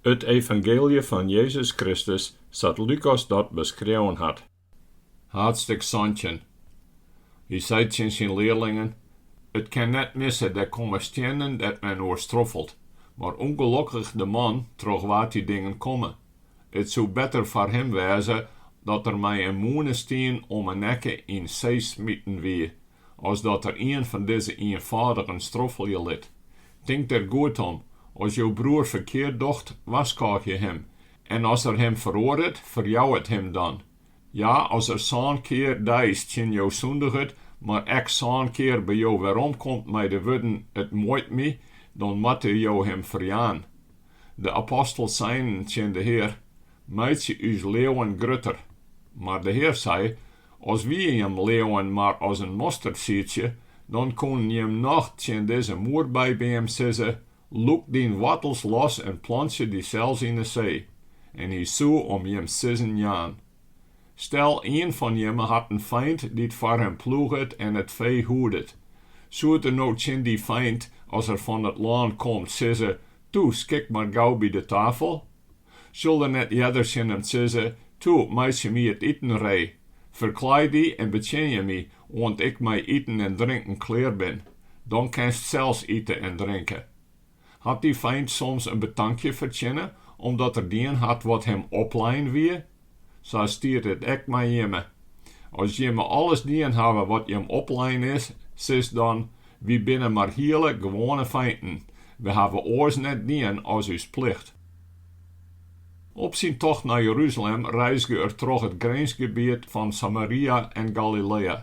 It evangeelje fan Jezus Kristus sa't Lukas dat beskreaun hat. Haadstik santjin. Hy sei tsjin syn learlingen, It kin net misse, der komme stiennen dêr't men oer stroffelt, mar ûngelokkich de man troch wa't dy dingen komme. It soe better foar him wêze dat er mei in mûnestien om 'e nekke yn see smiten wie, as dat er ien fan dizze ienfâldigen stroffelje lit. Tink der goed om, as jo broer ferkeard docht, warskôgje him, en as er him feroaret, ferjou it him dan. Ja, as er sân kear deis tsjin jo sûndiget, mar ek sân kear by jo weromkomt mei de wurden, It muoit my, dan moatte jo him ferjaan. De apostels seinen tsjin de Hear, Meitsje ús leauwen grutter. Mar de Hear sei, As wie jim leauwen mar as in mostersiedsje, dan koenen jim noch tsjin dizze moerbybeam sizze, Lûk dyn woartels los en plantsje dysels yn 'e see, en hy soe om jim sizzen jaan. Stel, ien fan jimme hat in feint dy't foar him ploeget en it fee hoedet. Soed er no tsjin dy feint, as er fan it lân komt, sizze, Toe, skik mar gau by de tafel. Sil er net earder tsjin him sizze, Toe, meitsje my it iten ree, ferklaai dy en betsjinje my, oant ik mei iten en drinken klear bin, dan kinst sels ite en drinke? Hat dy feint soms in betankje fertsjinne, omdat er dien hat wat him oplein wie? Sa stiet it ek mei jimme. As jimme alles dien hawwe wat jim oplein is, sis dan, Wy binne mar hiele gewoane feinten, we hawwe oars net dien as ús plicht. Op syn tocht nei Jeruzalem reizge er troch it grinsgebiet fan Samaria en Galilea.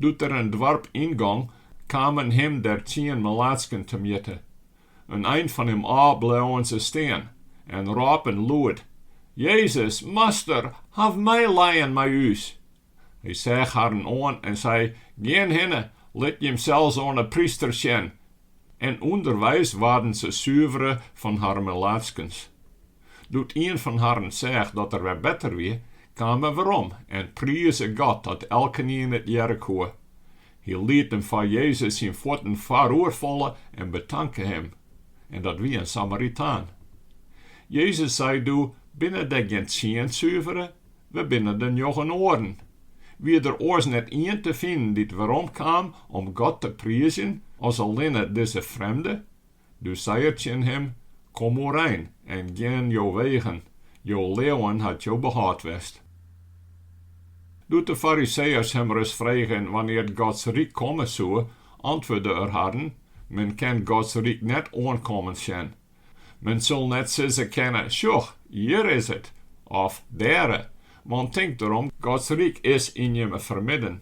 Doe't er in doarp yngong, kamen him der tsien melaatsken temjitte. In ein fan him ôf bleauen se stean en rôpen lûd, Jezus, Master, haw meilijen mei ús! Hy seach harren oan en sei, Gean hinne, lit jimsels oan 'e prysters sjen. En ûnderweis waarden se suvere fan har melaatskens. Doe't ien fan harren seach dat er wer better wie, kaam er werom en prize God dat elkenien it hearre koe. Hy liet him foar Jezus syn fuotten foaroer falle en betanke him, en dat wie in Samaritaan. Jezus sei doe, Binne der gjin tsien suvere? Wêr binne de njoggen oaren? Wie der oars net ien te finen dy't weromkaam om God te priizjen as allinne dizze frjemde? Dus sei er tsjin him, Kom oerein en gean jo wegen, jo leauwen hat jo behâld west. Doe't de Fariseeërs him ris fregen wannear't Gods ryk komme soe, antwurde er harren, Men kin Gods ryk net oankommen sjen. Men sil net sizze kinne, Sjoch, hjir is it! of, Dêre! Want tink derom, Gods ryk is yn jimme fermidden.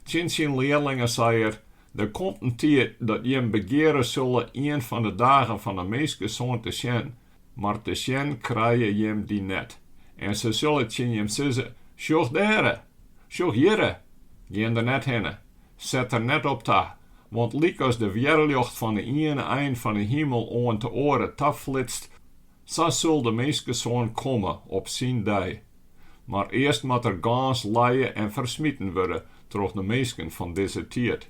Tsjin syn learlingen sei er, Der komt in tiid dat jim begeare sille ien fan de dagen fan 'e Minskesoan te sjen, mar te sjen krije jim dy net, en se sille tsjin jim sizze, Sjoch dêre! Sjoch hjirre! Gean der net hinne, set der net op ta, want lykas de wjerrljocht fan 'e iene ein fan 'e himel oant de oare ta flitst, Sa sil de Minskesoan komme op syn dei. Mar earst moat er gâns lije en fersmiten wurde troch de minsken fan dizze tiid.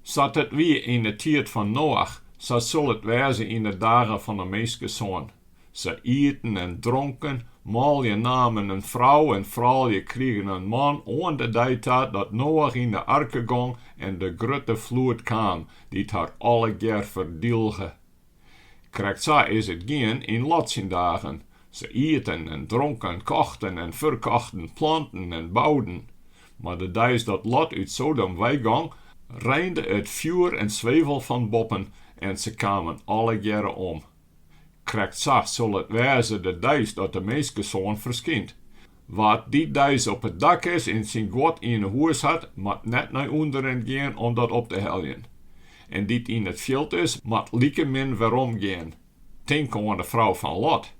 Sa't it wie yn 'e tiid fan Noach, sa sil it wêze yn 'e dagen fan 'e Minskesoan. Se iten en dronken, manlju namen in frou en froulju krigen in man, oan de dei ta dat Noach yn 'e arke gong en de grutte floed kaam, dy't har allegear ferdielge. Krekt sa is it gien yn Lot syn dagen. Se iten en dronken, kochten en ferkochten, planten en bouden. Mar de deis dat Lot út Sodom weigong, reinde it fjoer en swevel fan boppen en se kamen allegearre om. Krekt sa sil it wêze de deis dat de Minskesoan ferskynt. Wa't dy deis op it dak is en syn guod yn 'e hûs hat, moat net nei ûnderen gean om dat op te heljen. En dy't yn it fjild is, moat likemin werom gean. Tink oan 'e frou fan Lot.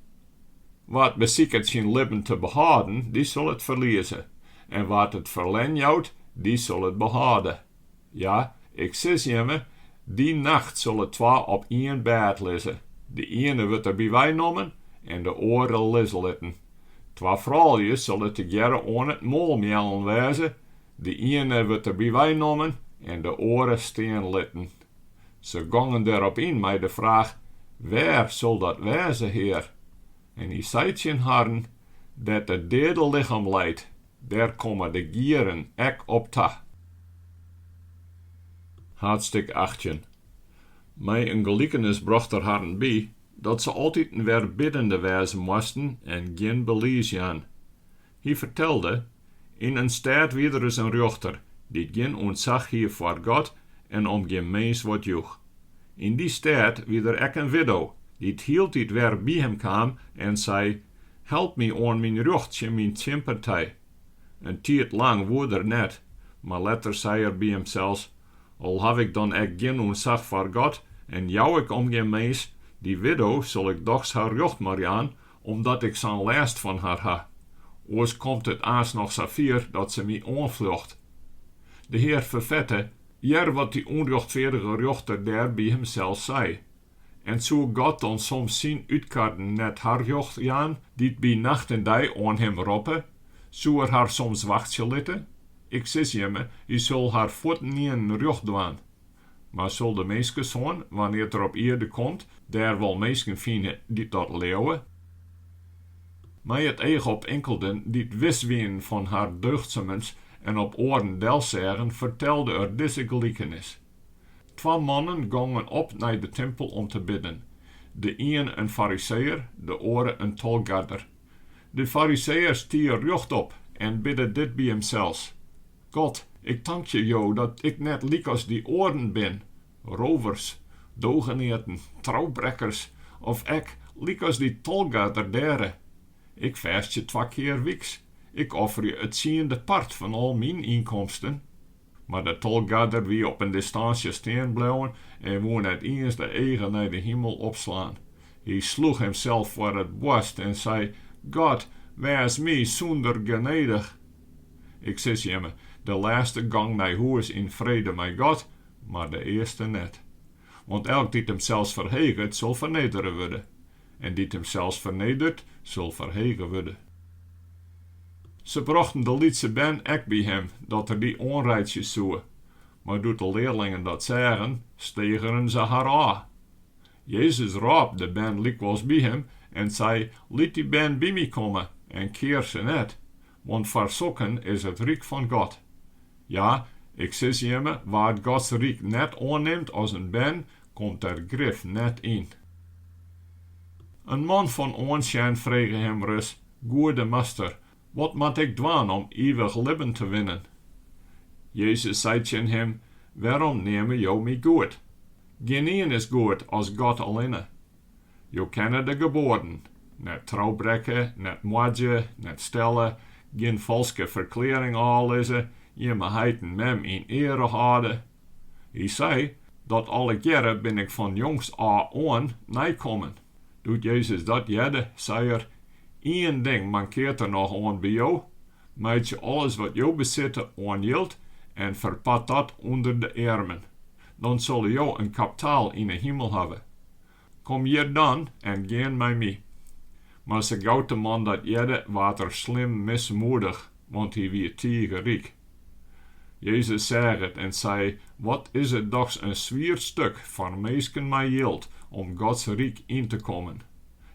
Wa't besiket syn libben te behâlden, dy sil it ferlieze, en wa't it ferlern jout, dy sil it behâlde. Ja, ik sis jimme, dy nacht sille twa op ien bêd lizze. De iene wurdt der by wei nommen en de oare lizze litten. Twa froulju sille tegearre oan it moalmeallen wêze, de iene wurdt der by wei nommen en de oare stean litten. Se gongen derop yn mei de fraach, Wêr sil dat wêze, Hear? En hy sei tsjin harren, Dêr't it deade lichem leit. Dêr komme de gieren ek op ta. Haadstik achttjin. Mei in gelikenis brocht er harren by, dat se altiten wer biddende wêze moasten en gjin belies jaan. Hy fertelde, Yn in stêd wie der ris in rjochter, dy't gjin ûntsach hie foar God en om gjin mins wat joech. Yn dy stêd wie der ek in widdo, dy't hieltyd wer by him kaam en sei, Help my oan myn rjocht tsjin myn tsjinpartij. In tiid lang woe er net, mar letter sei er by himsels, Al haw ik dan ek gjin ûntsach foar God en jou ik om gjin mins, dy widdo sil ik dochs har rjocht mar jaan, omdat ik sa'n lêst fan har ha. Oars komt it aanst noch sa fier dat se my oanfljocht. De Hear ferfette, hear, wat dy ûnrjochtfeardige rjochter dêr by himsels sei. En soe God dan soms syn útkarren net har rjocht jaan, dy't by nacht en dei oan him roppe? Soe er har soms wachtsje litte? Ik sis jimme, hy sil har fuortenienen rjocht dwaan. Mar sil de Minskesoan, wannear't er op ierde komt, dêr wol minsken fine dy't dat leauwe? Mei it each op inkelden dy't wis wienen fan har deugdsummens en op oaren delseagen, fertelde er dizze gelikenis. Twa mannen gongen op nei de timpel om te bidden, de iene in Fariseeër, de oare in tolgarder. De Fariseeër stie rjochtop en bidde dit by himsels, God, ik tankje jo dat ik net lykas dy oaren bin, rovers, dogeneaten, troubrekkers, of ek lykas dy tolgarder dêre. Ik fêstje twa kear wyks, ik offerje it tsiende part fan al myn ynkomsten. Mar de tolgarder wie op in distansje stean bleaun en woe net iens de eagen nei de himel opslaan. Hy sloech himsels foar it boarst en sei, God, wês my sûnder, genedich. Ik sis jimme, de lêste gong nei hûs yn frede mei God, mar de earste net. Want elk dy't himsels ferheget, sil fernedere wurde, en dy't himsels fernedert, sil ferhege wurde. Se brochten de lytse bern ek by him, dat er dy oanreitsje soe. Mar doe't de learlingen dat seagen, stegeren se har ôf. Jezus rôp de bern lykwols by him en sei, Lit dy bern by my komme, en kear se net, Want foar sokken is it ryk fan God. Ja, ik sis jimme, wa't Gods ryk net oannimt as in bern, komt der grif net yn. In man fan oansjen frege him ris, Goede Master, wat moat ik dwaan om ivich libben te winnen? Jezus sei tsjin him, Wêrom neame jo my goed? Gjinien is goed as God allinne. Jo kenne de geboaden, net troubrekke, net moadzje, net stelle, gjin falske ferklearring ôflizze, jim heit en mem yn eare hâlde. Hy sei, Dat allegearre bin ik fan jongs ôf oan neikommen. Doe't Jezus dat hearde, sei er, Ien ding mankeart der noch oan by jo, meitsje alles wat jo besitte oan jild en ferpart dat ûnder de earmen. Dan sille jo in kaptaal yn 'e himel hawwe. Kom hjir dan en gean mei my. Mar sa gau't de man dat hearde, waard er slim mismoedich, want hy wie tige ryk. Jezus seach it en sei, Wat is it dochs in swier stuk foar minsken mei jild om Gods ryk yn te kommen!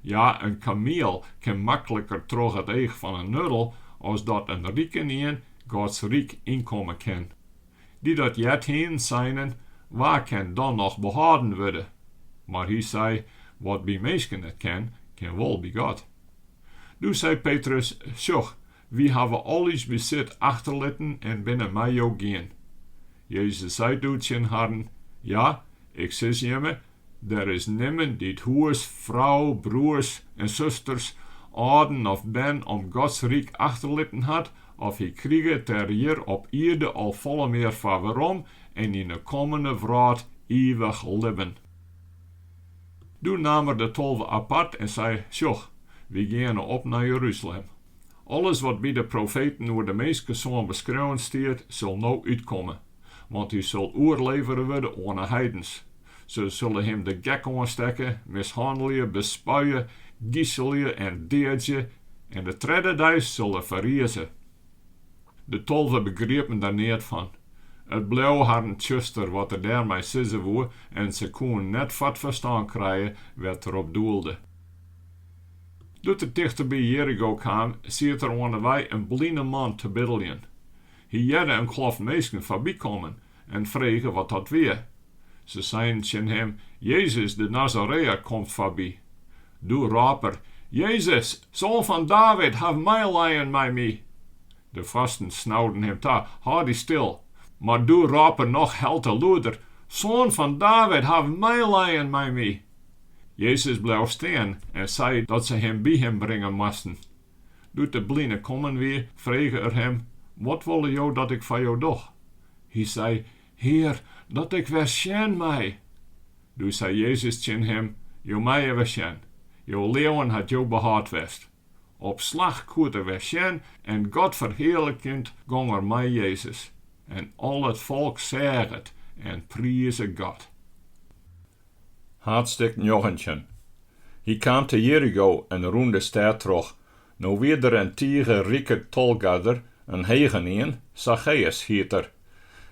Ja, in kamiel kin makliker troch it each fan in nuddel as dat in rikenien Gods ryk ynkomme kin. Dy't dat heard hienen seinen, Wa kin dan noch behâlden wurde? Mar hy sei, Wat by minsken net kin, kin wol by God. Doe sei Petrus, Sjoch, wy hawwe al ús besit achterlitten en binne mei jo gien. Jezus sei doe tsjin harren, Ja, ik sis jimme, Der is nimmen dy't hûs, frou, broers en susters, âlden of bern om Gods ryk achterlitten hat, of hy kriget der hjir op ierde al folle mear foar werom en yn 'e kommende wrâld ivich libben. Doe naam er de tolve apart en sei, Sjoch, wy geane op nei Jeruzalem. Alles wat by de profeten oer de Minskesoan beskreaun stiet, sil no útkomme, want hy sil oerlevere wurde oan 'e heidens, Se sille him de gek oanstekke, mishannelje, bespuie, giselje en deadzje, en de tredde dei sil er ferrize. De tolve begriepen der neat fan. It bleau harren tsjuster wat er dêrmei sizze woe en se koenen net foar 't ferstân krije wêr't er op doelde. Doe't er tichterby Jerigo kaam, siet der oan 'e wei in bline man te biddeljen. Hy hearde in kloft minsken foarbykommen en frege wat dat wie. Se seinen tsjin him, Jezus de Nazareër komt foarby. Doe rôp er, Jezus, Soan fan David, haw meilijen mei my! De foarsten snauden him ta, Hâld dy stil! Mar doe rôp er noch helte lûder, Soan fan David, haw meilijen mei my! Jezus bleau stean en sei dat se him by him bringe moasten. Doe't de bline kommen wie, frege er him, Wat wolle jo dat ik foar jo doch? Hy sei, Hear, dat ik wer sjen mei! Doe sei Jezus tsjin him, Jo meie wer sjen, jo leauwen hat jo behâld west. Op slach koed er wer sjen en God ferhearlikjend gong er mei Jezus. En al it folk seach it en prize God. Haadstik njoggentjin. Hy kaam te Jerigo en rûn de stêd troch. No wie der in tige rike tolgarder, in hegenien, Sacheüs hiet er.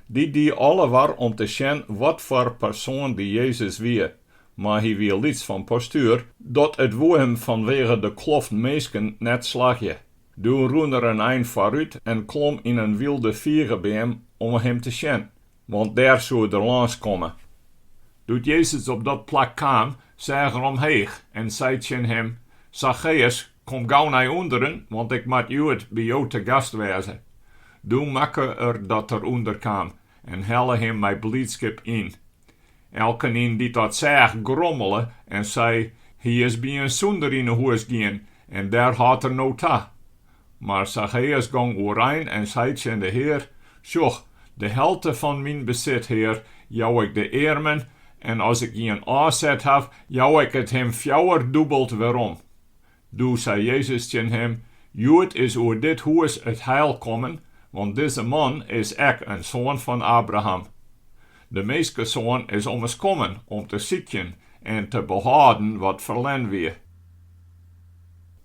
Dy die alle war om te sjen wat foar persoan dy Jezus wie, mar hy wie lyts fan postuer, dat it woe him fanwege de kloft minsken net slagje. Doe rûn er in ein foarút en klom yn in wylde figebeam om him te sjen. Want dêr soe er lâns komme. Doe't Jezus op dat plak kaam, seach er omheech en sei tsjin him, Sacheus, kom gau nei ûnderen, want ik moat hjoed by jo te gast wêze. Doe makke er dat er ûnder kaam en helle him mei bliidskip yn. Elkenien dy't dat seach, grommele en sei, Hy is by in sûnder yn 'e hûs gien, en dêr hâldt er no ta. Mar Sacheus gong oerein en sei tsjin de Hear, Sjoch, de helte fan myn besit, Hear, jou ik de earmen, en as ik ien ôfset haw, jou ik it him fjouwerdûbeld werom. Doe sei Jezus tsjin him, Hjoed is oer dit hûs it heil kommen, want dizze man is ek in soan fan Abraham. De Minskesoan is ommers kommen om te sykjen en te behâlden wat ferlern wie.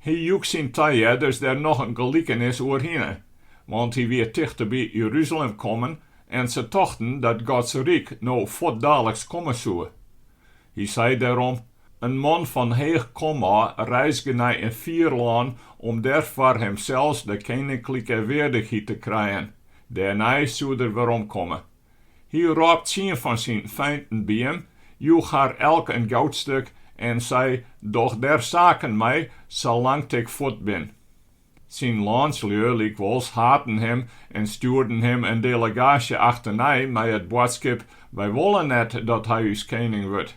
Hy joech syn tahearders dêr noch in gelikenis oerhinne, want hy wie tichteby Jeruzalem kommen en se tochten dat Gods ryk no fuortdaliks komme soe. Hy sei dêrom, In man fan heech komôf reizge nei in fier lân om dêr foar himsels de keninklike weardichheid te krijen, dêrnei soed er weromkomme. Hy rôp tsien fan syn feinten by him, joech har elk in goudstik en sei, Doch dêr saken mei, salang't ik fuort bin. Syn lânslju lykwols haten him en stjoerden him in delegaasje achternei mei it boadskip, Wy wolle net dat hy ús kening wurdt.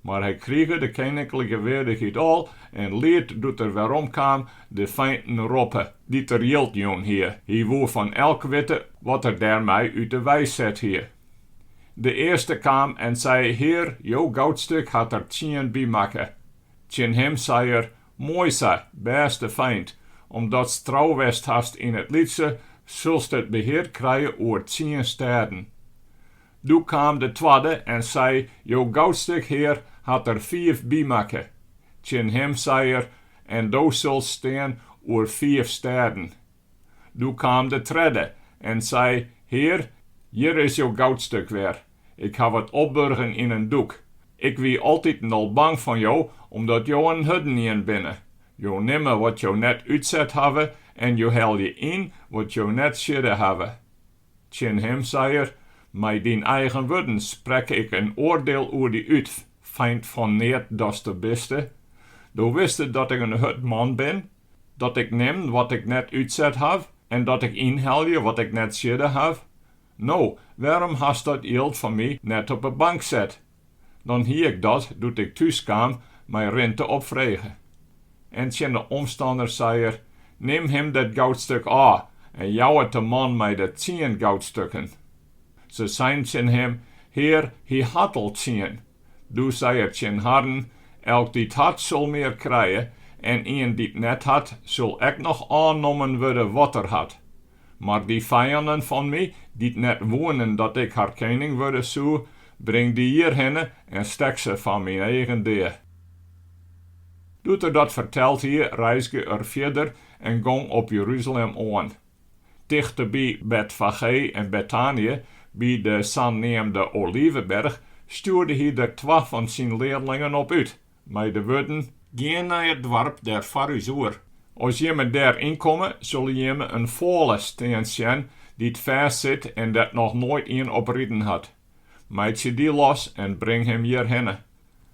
Mar hy krige de keninklike weardichheid al en liet doe't er weromkaam de feinten roppe, dy't er jild jûn hie. Hy woe fan elk witte wat er dêrmei út de wei set hie. De earste kaam en sei, Hear, jo goudstik hat der tsien bymakke. Tsjin him sei er, Moai sa, bêste feint, omdatst trou west hast yn it lytse, sulst it behear krije oer tsien stêden. Doe kaam de twadde en sei, Jo goudstik, Hear, hat der fiif bymakke. Tsjin him sei er, En do sulst stean oer fiif stêden. Doe kaam de tredde en sei, Hear, hjir is jo goudstik wer. Ik haw it opburgen yn in doek. Ik wie altiten al bang fan jo, omdat jo in hurdenien binne. Jo nimme wat jo net útset hawwe en jo helje yn wat jo net siedde hawwe. Tsjin him sei er, Mei dyn eigen wurden sprek ik in oardeel oer dy út, feint fan neat datste biste. Do wiste dat ik in hurd man bin, dat ik nim wat ik net útset haw en dat ik ynhelje wat ik net siedde haw. No, wêrom hast dat jild fan my net op 'e bank set? Dan hie ik dat, doe't ik thús kaam, mei rinte opfrege. En tsjin de omstanners sei er, Nim him dat goudstuk ôf en jou it de man mei de tsien goudstukken. Se seinen tsjin him, Hear, hy hat al tsien. Doe sei er tsjin harren, Elk dy't hat, sil mear krije, en ien dy't net hat, sil ek noch ôfnommen wurde wat er hat. Mar dy fijannen fan my, dy't net woenen dat ik har kening wurde soe, bring dy hjirhinne en stek se foar myn eagen dea. Doe't er dat ferteld hie, reizge er fierder en gong op Jeruzalem oan. Tichteby Betfagé en Betanje, by de saneamde Oliveberch, stjoerde hy der twa fan syn learlingen op út, mei de wurden, Gean nei it doarp dêr foar ús oer. As jimme dêr ynkomme, sille jimme in fôle stean sjen dy't fêst sit en dêr't noch noait ien op riden hat. Meitsje dy los en bring him hjirhinne.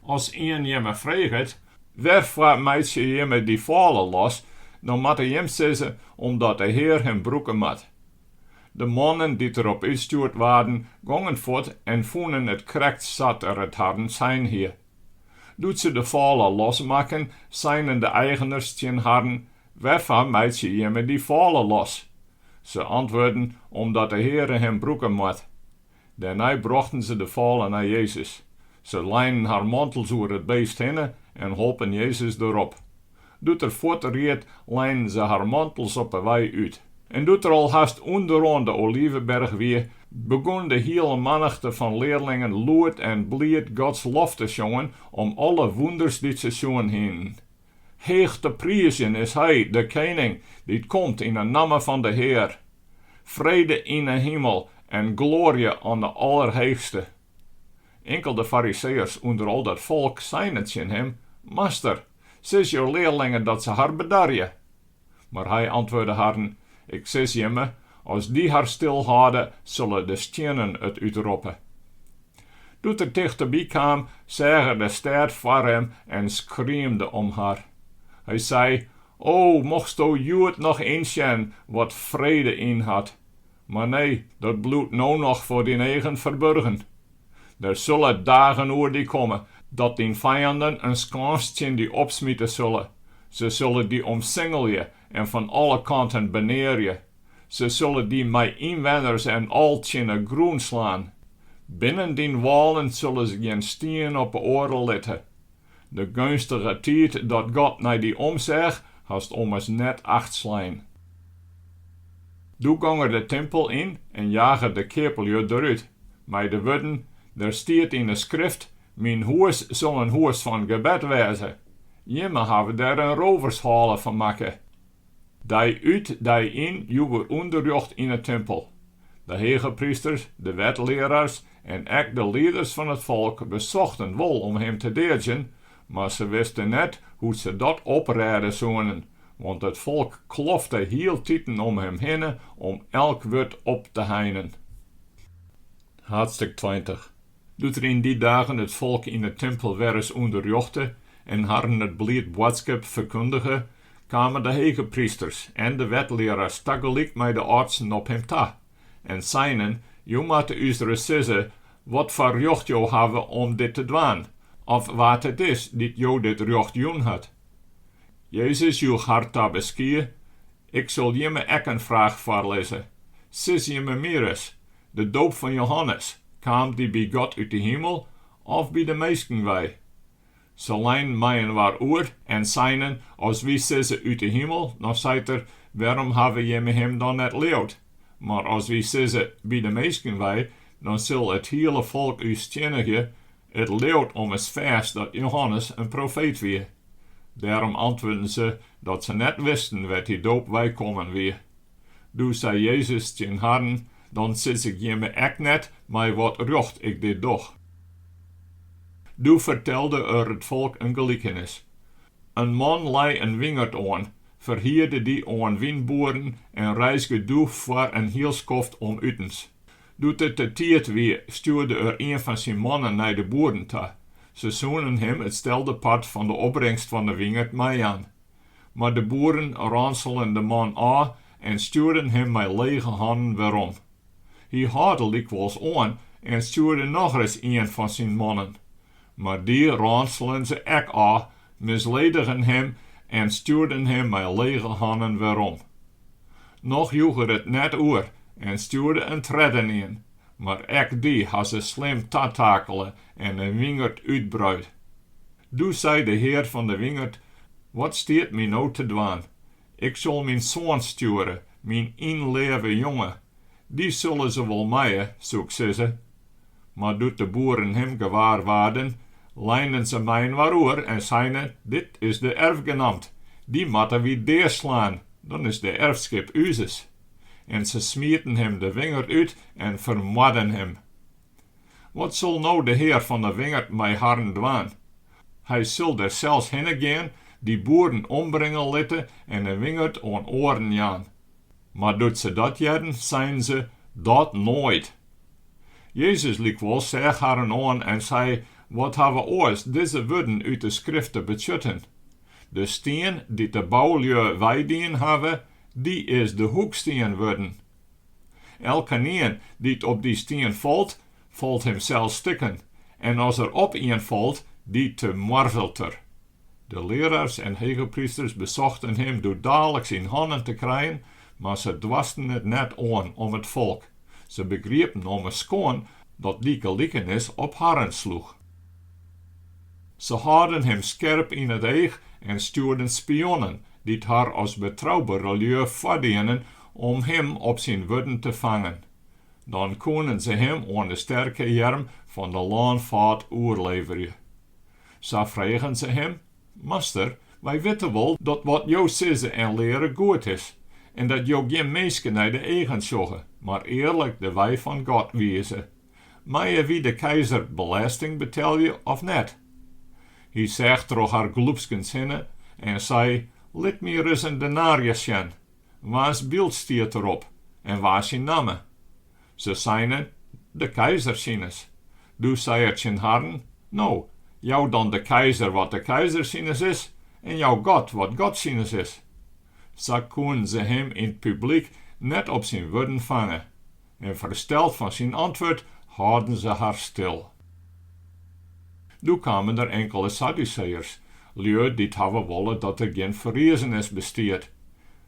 As ien jimme freget, Wêrfoar meitsje jimme dy fôle los? dan moatte jim sizze, Omdat de Hear him brûke moat. De mannen dy't der op útstjoerd waarden, gongen fuort en fûnen it krekt sa't er it harren sein hie. Doe't se de fôle los makken, seinen de eigeners tsjin harren, Wêrfoar meitsje jimme dy fôle los? Se antwurden, Omdat de Heare him brûke moat. Dêrnei brochten se de fôle nei Jezus. Se leinen har mantels oer it beest hinne en holpen Jezus derop. Doe't er fuort ried, leinen se har mantels op 'e wei út. En doe't er al hast ûnderoan de Oliveberch wie, begûn de hiele mannichte fan learlingen lûd en bliid Gods lof te sjongen om alle wûnders dy't se sjoen hienen. Heech te priizjen is Hy, de Kening, dy't komt yn 'e namme fan de Hear! Frede yn 'e himel en gloarje oan 'e Allerheechste! Inkelde Fariseeërs ûnder al dat folk seinen tsjin Him, Master! Sis jo learlingen dat se har bedarje. Mar hy antwurde harren, Ik sis jimme, as dy har stil hâlde, sille de stiennen it útroppe. Doe't er tichteby kaam, seach er de stêd foar him en skriemde om har. Hy sei, O, mochtsto hjoed noch ynsjen, wat frede ynhat! Mar nee, dat bliuwt no noch foar dyn eagen ferburgen. Der sille dagen oer dy komme, dat dyn fijanden in skâns tsjin dy opsmite sille. Se sille dy omsingelje en fan alle kanten benearje. Se sille dy mei ynwenners en al tsjin 'e grûn slaan. Binnen dyn wâlen sille se gjin stien op 'e oare litte. De geunstige tiid dat God nei dy omseach, hast ommers net acht slein. Doe gong er de timpel yn en jage de keaplju derút, mei de wurden, Der stiet yn 'e Skrift, Myn hûs sil in hûs fan gebed wêze. Jimme hawwe der in rovershale fan makke. Dei út, dei yn joech er ûnderrjocht yn 'e timpel. De hegeprysters, de wetlearaars en ek de lieders fan it folk besochten wol om him te deadzjen, mar se wisten net hoe't se dat oprêde soenen, want it folk klofte hieltiten om him hinne om elk wurd op te heinen. Haadstik tweintich. Doe't er yn dy dagen it folk yn 'e timpel wer ris ûnderrjochte en harren it bliid boadskip ferkundige, kamen de hege prysters en de wetlearaars tagelyk mei de âldsten op him ta en seinen, Jo moatte ús ris sizze watfoar rjocht jo hawwe om dit te dwaan, of wa't it is dy't jo dit rjocht jûn hat. Jezus joech har te beskie, Ik sil jimme ek in fraach foarlizze. Sis jimme my ris, De doop fan Johannes, kaam dy by God út de himel of by de minsken wei? Se leinen mei-inoar oer en seinen, As wy sizze, Ut 'e himel, dan seit Er, Wêrom hawwe jimme Him dan net leaud? Mar as wy sizze, By de minsken wei, dan sil it hiele folk ús stiennigje, It leaut ommers fêst dat Johannes in profeet wie. Dêrom antwurden se dat se net wisten wêr't dy doop weikommen wie. Doe sei Jezus tsjin harren, Dan sis ik jimme ek net mei wat rjocht ik dit doch. Doe fertelde er it folk in gelikenis. In man lei in wingerd oan, ferhierde dy oan wynboeren en reizge doe foar in hiel skoft om utens. Doe't it de tiid wie, stjoerde er ien fan syn mannen nei de boeren ta. Se soenen him it stelde part fan de opbringst fan de wingerd meijaan. Mar de boeren ranselen de man ôf en stjoerden him mei lege hannen werom. Hy hâlde lykwols oan en stjoerde nochris ien fan syn mannen. Mar dy ranselen se ek ôf, misledigen him en stjoerden him mei lege hannen werom. Noch joech er it net oer en stjoerde in treddenien, mar ek dy ha se slim tatakele en 'e wingerd útbruid. Doe sei de hear fan de wingerd, Wat stiet my no te dwaan? Ik sil myn soan stjoere, myn ynleave jonge, dy sille se wol meie, soe ik sizze. Mar doe't de boeren him gewaar waarden, leinen se mei-inoar oer en seinen, Dit is de erfgenamt, dy moatte wy deaslaan, dan is de erfskip úzes. En se smieten him de wingerd út en fermoarden him. Wat sil no de hear fan de wingerd mei harren dwaan? Hy sil der sels hinne gean, dy boeren ombringe litte en de wingerd oan oaren jaan. Mar doe't se dat hearden, seinen se, Dat noait! Jezus lykwols seach harren oan en sei, Wat hawwe oars dizze wurden út de Skrift te betsjutten? De stien, dy't de boulju weidien hawwe, dy is de hoekstien wurden. Elkenien dy't op dy stien falt, falt himsels stikken, en as er op ien falt, dy temoarzelt er. De learaars en hegeprysters besochten him doe daliks yn hannen te krijen, mar se doarsten it net oan om it folk. Se begriepen ommers skoan dat dy gelikenis op harren sloech. Se hâlden him skerp yn it each en stjoerden spionnen, dy't har as betroubere lju foardienen om him op syn wurden te fangen. Dan koenen se him oan de sterke earm fan de lânfâd oerleverje. Sa fregen se him, Master, wy witte wol dat wat jo sizze en leare goed is, en dat jo gjin minske nei de eagen sjogge, mar earlik de wei fan God wize. Meie wy de keizer belêsting betelje of net? Hy seach troch har glûpskens hinne en sei, Lit my ris in denarius sjen, Wa's byld stiet derop en wa syn namme? Se seinen, De keizer sines. Doe sei er tsjin harren, No, jou dan de keizer wat de keizer sines is, en jou God wat God sines is. Sa koenen se him yn 't publyk net op syn wurden fange. En fersteld fan syn antwurd hâlden se har stil. Doe kamen der inkele Sadduseeërs, lju dy't hawwe wolle dat der gjin ferriezenis bestiet.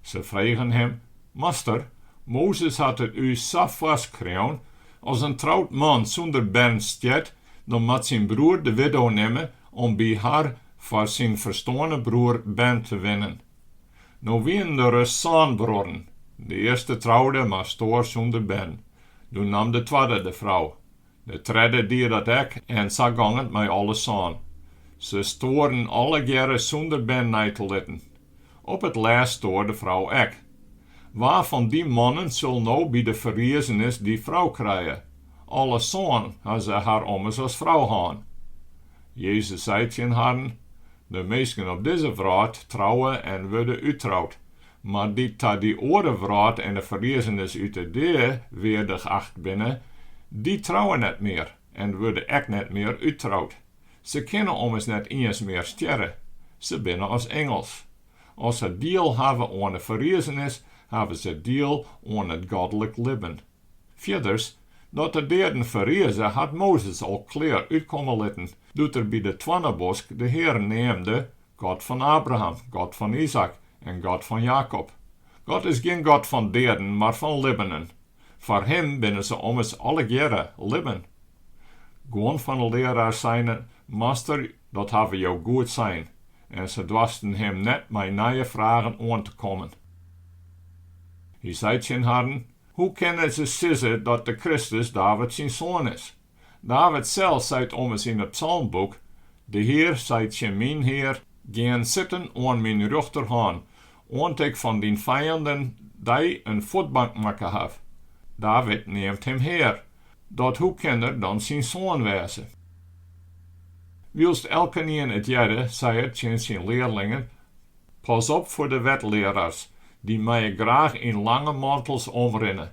Se fregen him, Master, Mozes hat it ús sa foarskreaun, As in troud man sûnder bern stjert, dan moat syn broer de widdo nimme om by har foar syn ferstoarne broer bern te winnen. No wienen der ris sân bruorren. De earste troude mar stoar sûnder bern. Doe nam de twadde de frou. De tredde die dat ek en sa gong it mei alle sân. Se stoaren allegearre sûnder bern nei te litten. Op it lêst stoar de frou ek. Wa fan dy mannen sil no by de ferriezenis dy frou krije? Alle sân ha se har ommers as frou hân. Jezus sei tsjin harren, De minsken op dizze wrâld trouwe en wurde úttroud, mar dy't ta dy oare wrâld en de ferriezenis út 'e dea weardich acht binne, dy trouwe net mear en wurde ek net mear úttroud. Se kinne ommers net iens mear stjerre, se binne as ingels. As se diel hawwe oan 'e ferriezenis, hawwe se diel oan it godlik libben. Fierders, dat de deaden ferrize, hat Mozes al klear útkomme litten, doe't er by de toarnebosk de Heare neamde, God fan Abraham, God fan Izaäk en God fan Jakob. God is gjin God fan deaden, mar fan libbenen. Foar Him binne se ommers allegearre libben. Guon fan 'e learaars seinen, Master, dat hawwe Jo goed sein, en se doarsten Him net mei nije fragen oan te kommen. Hy sei tsjin harren, Hoe kinne se sizze dat de Kristus David syn soan is? David sels seit ommers yn it psalmboek, De Hear seit tsjin myn Hear, Gean sitten oan myn rjochterhân, oant ik fan dyn fijanden dy in fuotbank makke haw. David neamt him Hear, dat hoe kin er dan syn soan wêze? Wylst elkenien it hearde, sei er tsjin syn learlingen, Pas op foar de wetlearaars, dy meie graach yn lange mantels omrinne.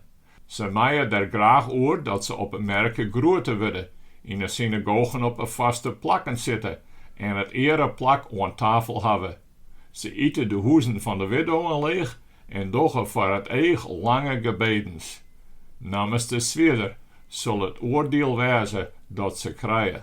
Se meie der graach oer dat se op 'e merke groete wurde, yn 'e synagogen op 'e foarste plakken sitte en it eareplak oan tafel hawwe. Se ite de hûzen fan de widdowen leech en dogge foar it each lange gebedens. Nammenste swierder sil it oardiel wêze dat se krije.